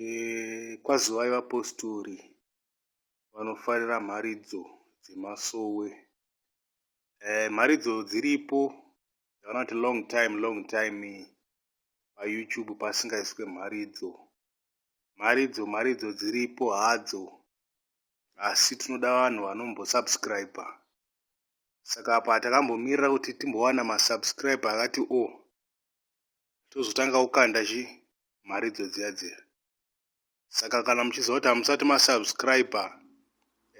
E, kwazivai vapostori vanofarira mharidzo dzemasowe. E, mharidzo dziripo dzavanoti long time long time payoutube pasingaiswe mharidzo mharidzo mharidzo dziripo hadzo asi tinoda vanhu vanombosubscribe saka apa takambomirira kuti timbowana masubscribe akati o oh, tozotanga kukanda chi mharidzo dziya dziya saka kana muchiziva kuti hamusati masubscriber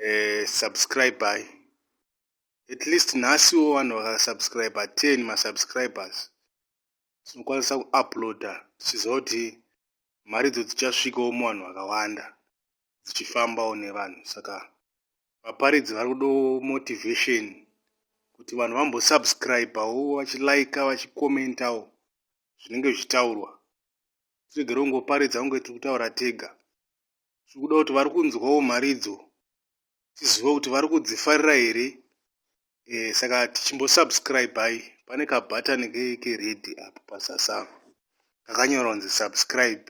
eh, subscribei at least nhasiwo vanhu vakasubscriber 10 masubscribers tinokwanisa kuuploada tichiziva kuti mharidzo dzichasvikawo muvanhu vakawanda dzichifambawo nevanhu saka vaparidzi vari kudawo motivation kuti vanhu vambosubscribawo vachilaika vachikomentawo zvinenge zvichitaurwa tiregere kungoparidza kunge tiri kutaura tega tiri kuda kuti vari kunzwawo mharidzo tizive kuti vari kudzifarira here eh, saka tichimbosubscribei pane kabhatani keredi apo pasasava kakanyorwa kunzi subscribe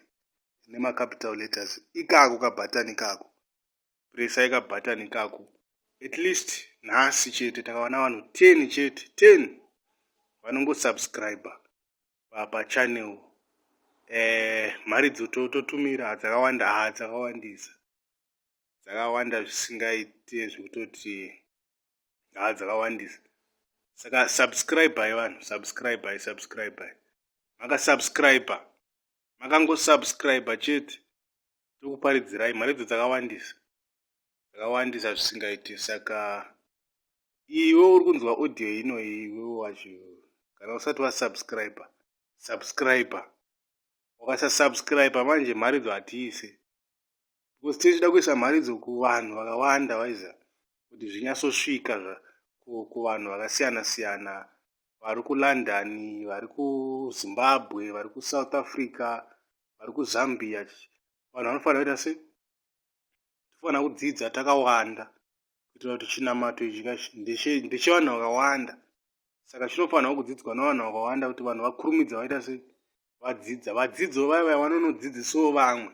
nemacapital letters ikako kabhatani kako presai kabhatani kako at least nhasi chete takawana vanhu 10 chete 10 vanongosubscribe pachannel eh, mharidzo totumira dzakawanda ha dzakawandisa dzakawanda zvisingaite zvekutoti haa dzakawandisa saka subscribai vanhu subscribai subscribai makasubscriba makangosubscriba chete tokuparidzirai mari dzo dzakawandisa dzakawandisa zvisingaite saka iwe uri kunzwa audio ino iwe wacho kana usati wasubscriba subscriba ukasasubscriba manje mharidzo hatiise because tinenge tichida kuisa mharidzo kuvanhu vakawanda waiza kuti zvinyatsosvika kuvanhu vakasiyana siyana vari kulondon vari kuzimbabwe vari kusouth africa vari kuzambia vanhu vanofanira kuita sei tofanira kudzidza takawanda kuitira kuti chinamato ichi ndechevanhu vakawanda saka chinofanirwa kudzidzwa navanhu vakawanda kuti vanhu vakurumidza vaita sei vadzidza vadzidzo vaya vaya vanonodzidzisawo vamwe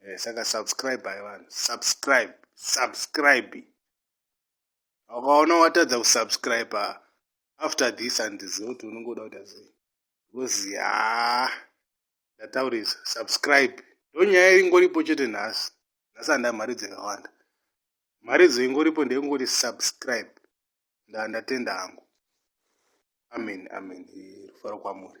eh, saka subscribe ayi vanhu subscribe subscribe ukaona watadza kusubscribe after this andiziva kuti unenge uda kuita sei because ya ndataurisa subscribe ndonyaya ingoripo chete nhasi nhasi handa mari dzakawanda mari dzoingoripo ndeyekungoti subscribe ndaa ndatenda hangu amen amen rufaro kwamuri